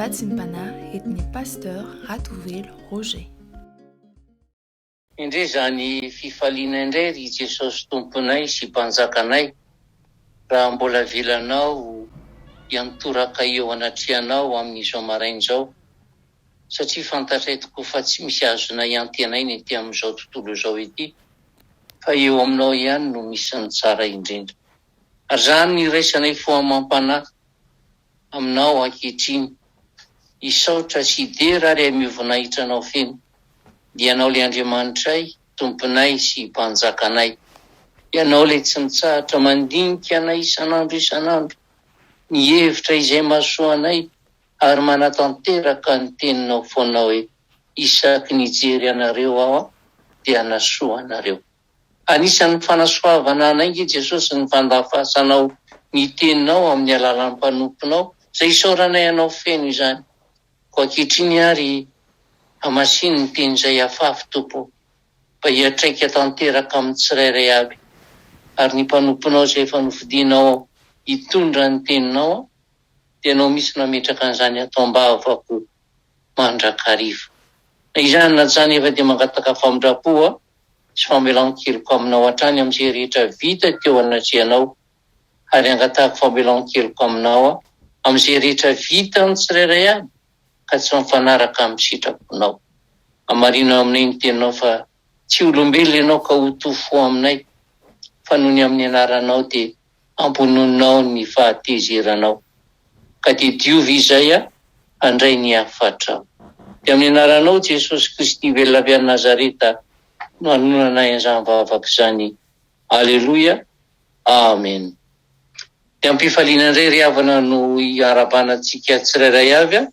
Vatsim-panahy eto ny Pasteur Ratovelo Roger. Indrisy zany fifaliana indray ry Jesosy Tomponay sy Mpanjakanay raha mbola avelanao hiantoraka eo anatrehanao amin'izao maraina izao satria fantatray tokoa fa tsy misy azonay hiantenaina ety amin'izao tontolo izao ity fa eo aminao ihany no misy ny tsara indrindra. Raha ny iraisanay fo amam-panahy aminao ankehitriny, hisaotra sy hidera ary hameo voninahitra anao feno, dia ianao ilay Andriamanitray, Tomponay sy Mpanjakanay. Ianao ilay tsy mitsahatra mandinika anay isan'andro isan'andro, mihevitra izay mahasoa anay ary manatanteraka ny teninao foana hoe, Isaky ny hijery anareo aho dia hanasoa anareo. Anisan'ny fanasoavana anay nge Jesosy ny fandafasanao ny teninao amin'ny alalan'ny mpanomponao izay isaoranay anao feno izany. Koa ankehitriny ary hamasino ny teny izay afafy Tompo o. Mba hiatraika tanteraka amin'ny tsirairay avy. Ary ny mpanomponao izay efa nofidinao hitondra ny teninao dia ianao mihitsy no hametraka an'izany ato ambavako mandrakariva. Na izany na izany efa dia mangataka famindrampo aho. sy famelan-keloka aminao hatrany amin'izay rehetra vita teo anatrehanao, ary angatahako famelan-keloka aminao amin'izay rehetra vitan'ny tsirairay avy ka tsy mifanaraka amin'ny sitraponao. Hamarino aminay ny teninao fa tsy olombelona ianao ka ho tofoa aminay, fa noho ny amin'ny anaranao dia hamponoanao ny fahatezeranao, ka dia diovy izay handray ny hafatrao. Dia amin'ny anaranao Jesosy Kristy velona avy any Nazareta no anonanay an'izany vavaka izany, Aleloia, Amen. Dia amim-pifaliana indray ry havana no hiarahabana antsika tsirairay avy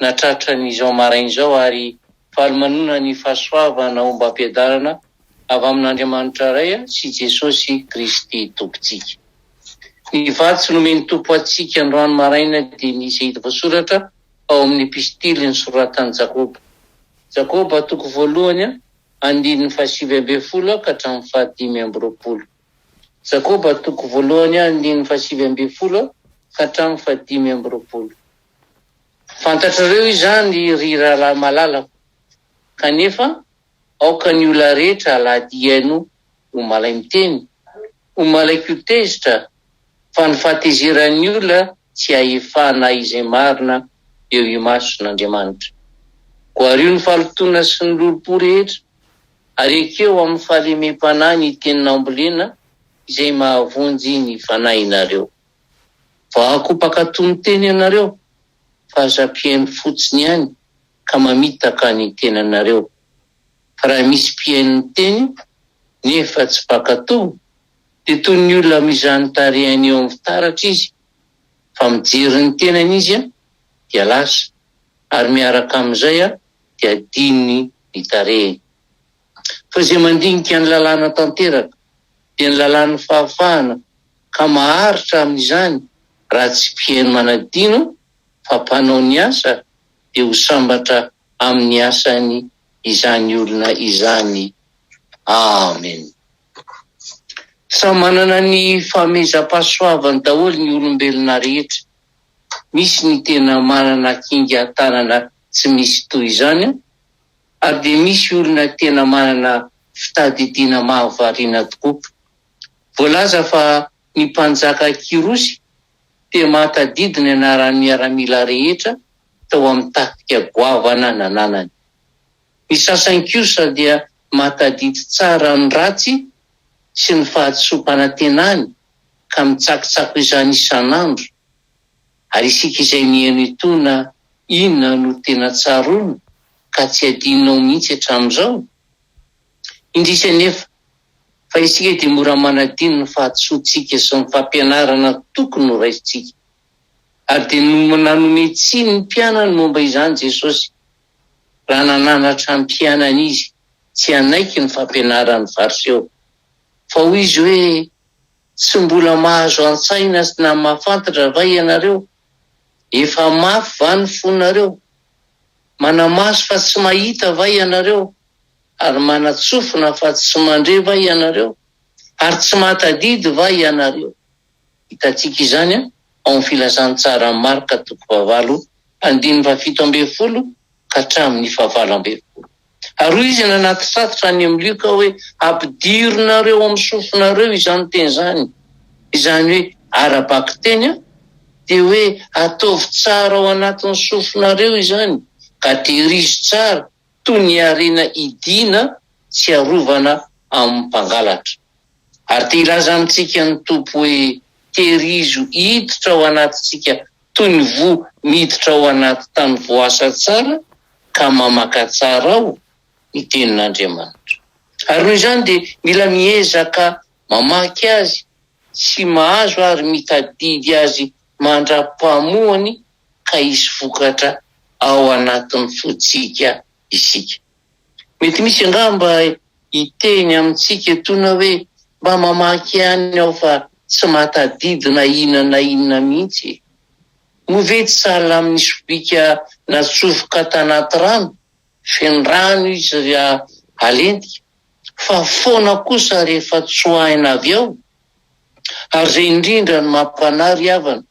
natratra ny izao maraina izao ary faly manonona ny fahasoavana ombam-piadanana avy amin'Andriamanitra Ray sy Jesosy Kristy Tompontsika. Ny vatsy nomen'ny Tompo antsika androany maraina dia ny izay hita voasoratra ao amin'ny epistily nosoratan'i Jakoba, Jakoba toko voalohany andininy fahasivy ambin'ny folo ka hatramin'ny fahadimy amby roapolo, Jakoba toko voalohany andininy fahasivy ambin'ny folo ka hatramin'ny fahadimy amby roapolo. Fantatrareo izany ry rahalahy malalako, kanefa aoka ny olona rehetra alahady hihaino ho malay miteny, ho malay koa tezitra, fa ny fahatezeran'ny olona tsy ahefana izay marina eo imason'Andriamanitra. Goario ny fahalotoana sy ny lolompo rehetra, ary ekeo amin'ny fahalemem-panahy ny teny nambolena izay mahavonjy ny fanahinareo. Voahako mpankatò miteny ianareo, fa aza mpihaino fotsiny ihany ka mamitaka ny tenanareo. Fa raha misy mpihaino ny teny, nefa tsy mpankatò, dia toy ny olona mizà ny tarehiny eo amin'ny fitaratra izy, fa mijery ny tenany izy, dia lasa, ary miaraka amin'izay dia adinony ny tarehiny. Fa izay mandinika ny lalàna tanteraka dia ny lalàn'ny fahafahana ka maharitra amin'izany raha tsy mpiheno manadino fa mpanao ny asa dia ho sambatra amin'ny asany izany olona izany. Amen. Samy manana ny fahamezam-pahasoavany daholo ny olombelona rehetra. Misy ny tena manana kinga tanana tsy misy toy izany Ary dia misy olona tena manana fitadidiana mahavariana tokoa. Voalaza fa ny mpanjaka Kyrosy dia mahatadidy ny anaran'ny miaramila rehetra tao amin'ny tafika goavana nananany. Ny sasany kosa dia mahatadidy tsara ny ratsy sy ny fahadisoam-panantenany ka mitsakitsako izany isan'andro. Ary isika izay niheno itony na inona no tena tsaroana ka tsy adinonao mihitsy hatramin'izao? Indrisy anefa, fa isika dia mora manadino ny fahadisoantsika sy ny fampianarana tokony horaisintsika. Ary dia nanome tsiny ny mpianany momba izany Jesosy, raha nananatra ny mpianany Izy tsy hanaiky ny fampianaran'ny Fariseo. Fa hoy Izy hoe. Tsy mbola mahazo an-tsaina sy na mahafantatra va ianareo? Efa mafy va ny fonareo? Manamaso fa tsy mahita va ianareo? Ary manatsofina fa tsy mandre va ianareo? Ary tsy mahatadidy va ianareo? Hitantsika izany ao amin'ny Filazantsaran'i Marka toko fahavalo, andininy fahafito ambin'ny folo ka hatramin'ny fahavalo ambin'ny folo. Ary hoy izy nanatitratitra any amin'i Lioka hoe, Ampidirinareo amin'ny sofinareo izany teny izany, izany hoe ara-bakiteny, dia hoe ataovy tsara ao anatin'ny sofinareo izany, ka tehirizo tsara toy ny harena hidiana tsy arovana amin'ny mpangalatra. Ary te hilaza amintsika ny Tompo hoe, Tehirizo hiditra ao anatintsika toy ny voa miditra ao anaty tany voasa tsara ka mamaka tsara ao ny Tenin'Andriamanitra. Ary noho izany dia mila miezaka mamaky azy sy mahazo ary mitadidy azy mandra-pahamoany ka hisy vokatra ao anatin'ny fontsika isika. Mety misy angamba hiteny amintsika etoana hoe, Mba mamaky ihany aho fa tsy mahatadidy na inona na inona mihitsy e! Moa ve tsy sahala amin'ny sobika natsofoka tanaty rano, feno rano izy raha halentika, fa foana kosa rehefa tsoahina avy ao? Ary izay indrindra no mampanahy ry havana,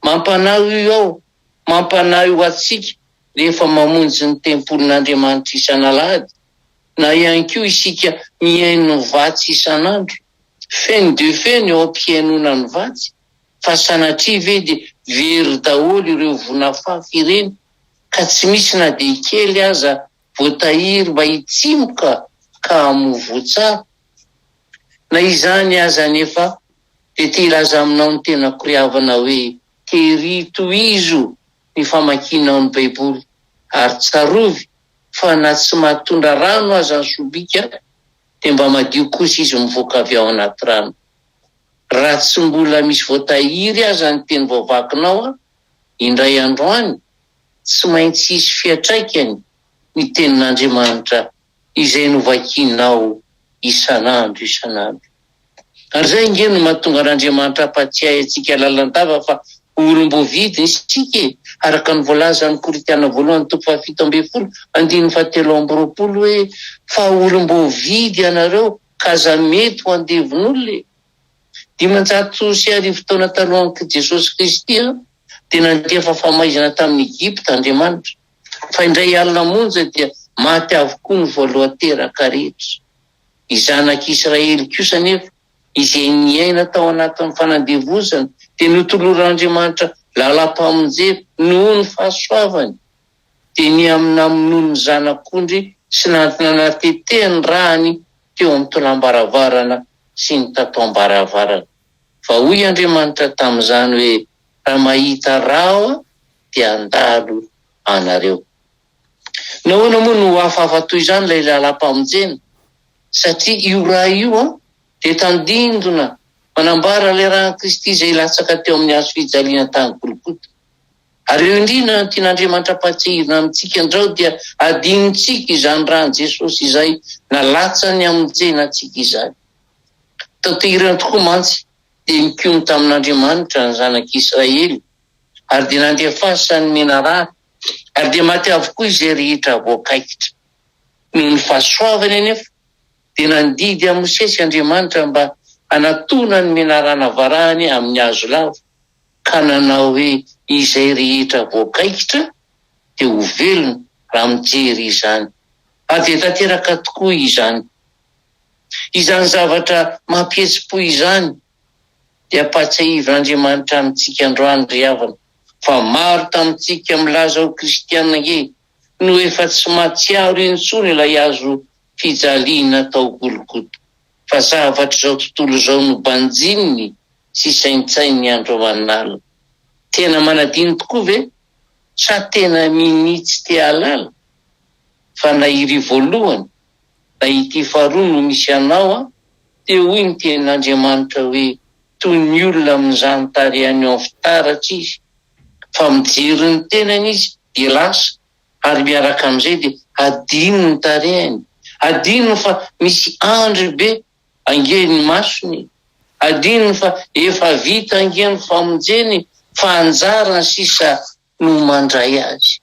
mampanahy hoy aho mampanahy ho antsika rehefa mamonjy ny tempolin'Andriamanitra isan'alahady, na ihany koa isika mihaino ny vatsy isan'andro. Feno dia feno eo am-pihainoana ny vatsy, fa sanatria ve dia very daholo ireo vonafafy ireny, ka tsy misy na dia kely aza voatahiry mba hitsimoka ka hamoa voa tsara? Na izany aza anefa, dia te-hilaza aminao ny tena koriavana hoe, Tery tohizo ny famakianao ny Baiboly, ary tsarovy fa na tsy mahatondra rano aza ny sobika, dia mba madio kosa izy mivoaka avy ao anaty rano. Raha tsy mbola misy voatahiry aza ny teny voavakinao, indray andro any, tsy maintsy hisy fiantraikany ny Tenin'Andriamanitra izay novakianao isan'andro isan'andro. Ary izay ange no mahatonga an'Andriamanitra hampatsiahy antsika lalandava fa olom-boavidiny isika e, araka ny voalazan'i Korintiana voalohany toko fahafito ambin'ny folo andininy fahatelo amby roapolo hoe, Fa olom-boavidy ianareo, ka aza mety ho andevon'olona e. Dimanjato sy arivo taona talohan'i Jesosy Kristy dia nandefa famaizana tamin'i Egypta Andriamanitra. Fa indray alina monja dia maty avokoa ny voalohan-teraka rehetra. Ny zanak'i Israely kosa anefa, izay niaina tao anatin'ny fanandevozana, dia notoloran'Andriamanitra lalam-pamonjena noho ny fahasoavany. Dia nihaminaminony ny zanak'ondry sy nananteteany ny ràhany teo amin'ny tolam-baravarana sy ny tataom-baravarana. Fa hoy Andriamanitra tamin'izany hoe, Raha mahita rava dia handalo anareo. Nahoana moa no hafahafa toy izany ilay lalam-pamonjena? Satria io ra io dia tandindona manambara ilay ran'i Kristy izay hilatsaka teo amin'ny hazo fijaliana tany Golgota. Ary eo indrindra no tian'Andriamanitra hampahatsiahivina amintsika andrao dia hadinontsika izany ran'i Jesosy izay nalatsany hamonjena antsika izany. Taterina tokoa mantsy dia nikomy tamin'Andriamanitra ny zanak'Israely, ary dia nandefasany ny menarana, ary dia maty avokoa izay rehetra voakaikitra. Noho ny fahasoavany anefa, dia nandidy an'i Mosesy Andriamanitra mba hanatona ny menarana varahany amin'ny hazo lava, ka nanao hoe, Izay rehetra voakaikitra dia ho velona raha mijery izany. Ary dia tanteraka tokoa izany. Izany zavatra mampihetsi-po izany dia ampahatsiahivin'Andriamanitra amintsika androany ry havana fa maro tamintsika milaza ho kristiana ange no efa tsy mahatsiaro intsony ilay hazo fijaliana tao Golgota fa zavatr'izao tontolo izao no banjininy sy saintsaininy andro aman'alina. Tena manadino tokoa ve? Sa tena minia tsy te-hahalala fa na iry voalohany Na ity faharoa no misy anao an! Te hoy ny tenin'Andriamanitra hoe toy ny olona amin'ny zanitary any en fitaratra izy fa mijery ny tenany izy dia lasa ary miaraka amin'izay dia hadino ny tarehiny, hadino fa misy andry be ange ny masony, hadino fa efa vita ange ny famonjeny fa anjarany sisa no mandray azy.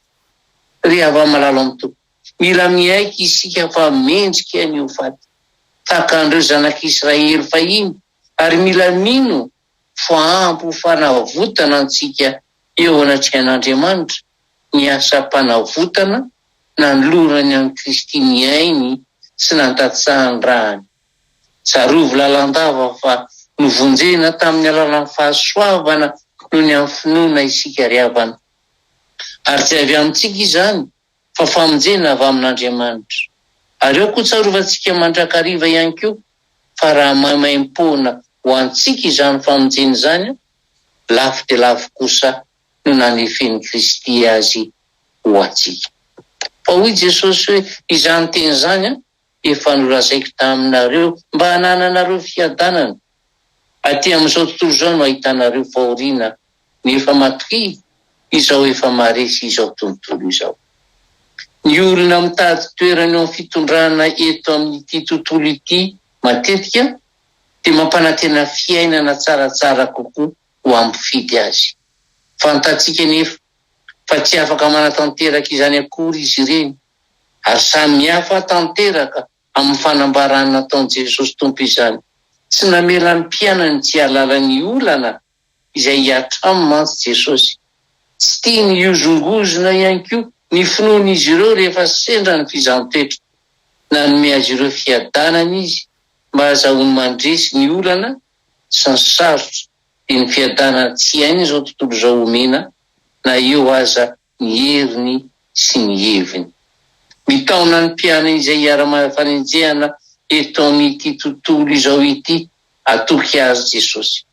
Ry hava-malala amin'ny Tompo, mila miaiky isika fa mendrika ny ho faty, tahaka an'ireo zanak'i Israely fahiny, ary mila mino fa ampy ho fanavotana antsika eo anatrehan'Andriamanitra ny asam-panavotana nanolorany an'i Kristy nihainy sy nandatsahany rany. Tsarovy lalandava fa novonjena tamin'ny alalan'ny fahasoavana noho ny amin'ny finoana isika ry havana. Ary tsy avy amintsika izany fa famonjena avy amin'Andriamanitra. Ary eo koa tsarovantsika mandrakariva ihany koa fa raha maimaimpoana ho antsika izany famonjena izany, lafo dia lafo kosa no nanefen'i Kristy azy ho antsika. Fa hoy Jesosy hoe, Izany teny izany, efa nolazaiko taminareo mba hanananareo fiadanana. Aty amin'izao tontolo izao no ahitanareo fahoriana nefa matokia izao efa maharesy izao tontolo izao. Ny olona mitady toerana eo amin'ny fitondrana eto amin'ity tontolo ity matetika dia mampanantena fiainana tsaratsara kokoa ho an'ny mpifidy azy. Fantatsika anefa fa tsy afaka manatanteraka izany akory izy ireny. Ary samihafa tanteraka amin'ny fanambarana nataon'i Jesosy Tompo izany. Tsy namela ny mpianany tsy hialala ny olana izay hiatrany mantsy Jesosy. Tsy tiany hihozongozona ihany koa ny finoan'izy ireo rehefa sendra ny fizaham-petra. Nanome azy ireo fiadanana izy mba hahazahoany mandresy ny olana sy ny sarotra, dia ny fiadanana tsy hainy izao tontolo izao omena na eo aza ny heriny sy ny heviny. Mitaona ny mpianany izay iharam-panenjehana eto amin'ity tontolo izao ity hatoky azy Jesosy.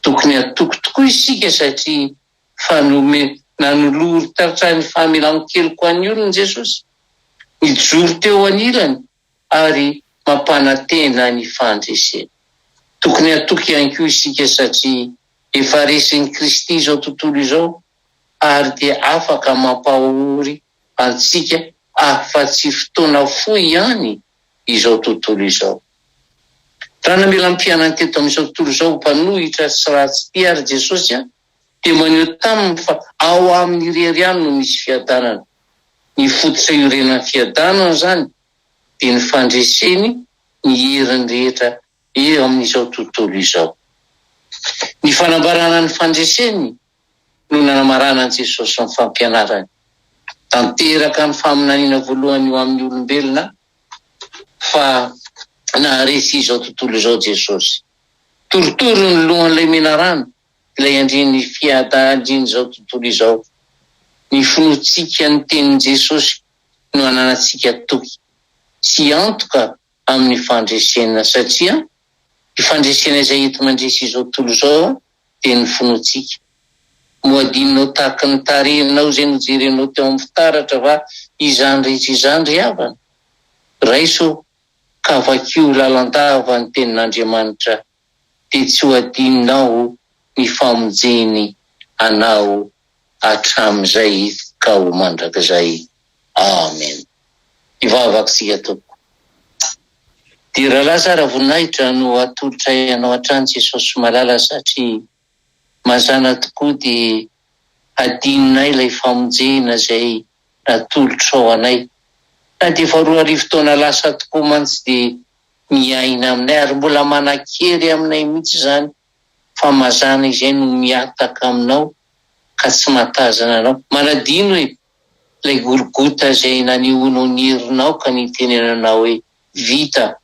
Tokony hatoky tokoa isika satria fanome nanolory tratray ny famelan-keloka an'ny olony Jesosy, nijoro teo anilany ary mampanantena ny fandreseny. Tokony hatoky ihany koa isika satria efa resin'i Kristy izao tontolo izao ary dia afaka mampahory antsika afa-tsy fotoana fohy ihany izao tontolo izao. Raha namela ny mpianany teto amin'izao tontolo izao ho mpanohitra sy ratsy tia àry Jesosy, dia maneho taminy fa ao aminy irery ihany no misy fiadanana. Ny fototra iorenan'ny fiadanana izany dia ny fandreseny ny heriny rehetra eo amin'izao tontolo izao. Ny fanambarana ny fandreseny no nanamarana an'i Jesosy sy ny fampianarany. Tanteraka ny faminaniana voalohany ho amin'ny olombelona fa naharesy izao tontolo izao Jesosy. Torotoro ny lohan'ilay menarana, ilay andrin'ny fiadaandrin'izao tontolo izao. Ny finoantsika ny tenin'i Jesosy no ananantsika toky sy antoka amin'ny fandresena, satria io fandresena izay enti-mandresy izao tontolo izao dia ny finoantsika. Moa adinonao tahaka ny tarehinao izay nojerenao teo amin'ny fitaratra va izany rehetra izany ry havana? Raiso ka vakio lalandava ny Tenin'Andriamanitra, dia tsy ho adinonao ny famonjeny anao. hatramin'izay ka ho mandrakizay. Amen. Hivavaka isika tompoko. Dia rahalahy tsara voninahitra no atolotray anao hatrany Jesosy malala satria mazana tokoa dia hadinonay ilay famonjena izay natolotrao anay na dia efa roa arivo taona lasa tokoa mantsy dia miaina aminay ary mbola manankery aminay mihitsy izany fa mazàna izay no mihataka aminao ka tsy mahatazana anao. Manadino hoe ilay Golgota izay nanehoanao ny herinao ka nitenenanao hoe, Vita!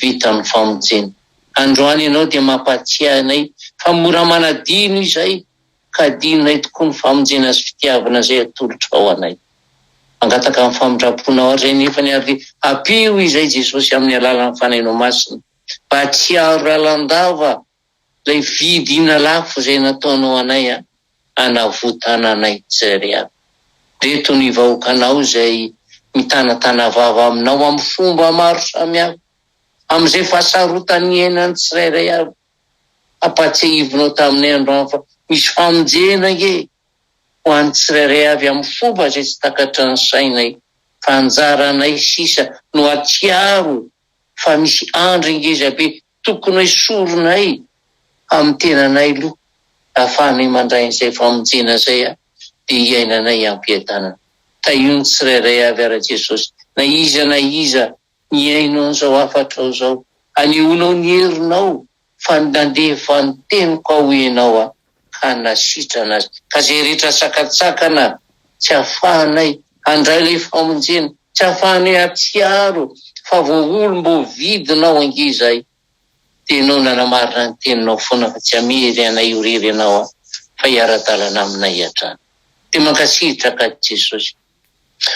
Vita ny famonjena. Androany ianao dia mampahatsiahy anay fa mora manadino izay ka adinonay tokoa ny famonjena sy fitiavana izay atolotrao anay. Mangataka ny famindram-ponao ary izay nefany ary ampio izay Jesosy amin'ny alalan'ny Fanahinao Masina. Mpahatsiaro lalandava lay vidina lafo zay nataonao anay a, anavotana anay tsry a. Reto ny vahoakanao zay mitanatana vava aminao am fomba maro samy hafa, am zay fahasarotan ny iainany tsirairay avy. Ampatsiahivinao taminay androany fa misy famonjena ange ho any tsirairay avy am fomba zay tsy takatry ny sainay fa anjaranay sisa no atsiaro fa misy andry ngeza be tokony hoesorinay amin'ny tenanay loha ahafahanay mandray an'izay famonjena izay a dia hiainanay ampiadanana. Tahio ny tsirairay avy ara Jesosy na iza na iza mihaino an'izao hafatrao izao, hanehoanao ny herinao fa nandeha vanin-teniko aho ianao a, ka nasitrana azy, ka izay rehetra sakantsakana tsy ahafahanay handray ilay famonjena, tsy ahafahanay hahatsiaro fa voaolom-boavidinao ange izahay, dia ianao nanamarina ny teninao foana fa tsy hamery anay eo irery ianao a, fa hiara-dalana aminay hatrany. Dia mankasitraka ahy Jesosy,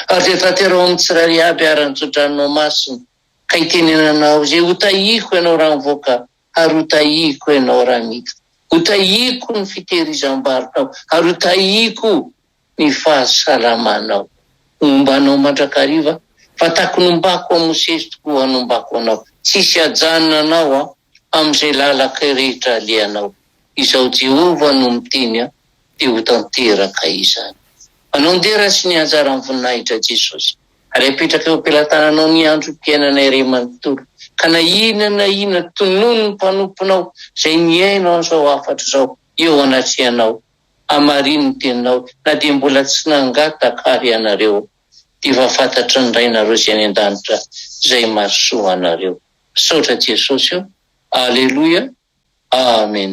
ary dia tanteraho amin'ny tsirairay aby ary ny tsotranao masina. Ka itenenanao izay hotahiko ianao raha mivoaka ary hotahiko ianao raha miditra. Hotahiko ny fitehirizam-barotrao ary hotahiko ny fahasalamanao. Homba anao mandrakariva fa taky nombako an'i Mosesy tokoa hanombako anao. Tsy hisy hajanona anao aho amin'izay lalaka rehetra alehanao. Izaho Jehovah no miteny aho, dia ho tanteraka izany. Manao ny dera sy ny anjaran'ny voninahitra Jesosy. Ary apetraka eo am-pelatananao ny androm-piainana iray manontolo, ka na inona na inona tononin'ny mpanomponao izay mihaino an'izao hafatra izao eo anatrehanao, hamarino ny teninao na dia mbola tsy nangataka ary ianareo, dia efa fantatry ny Rainareo izay any an-danitra izay mahasoa anareo. Misaotra Jesosy o! Aleloia! Amen!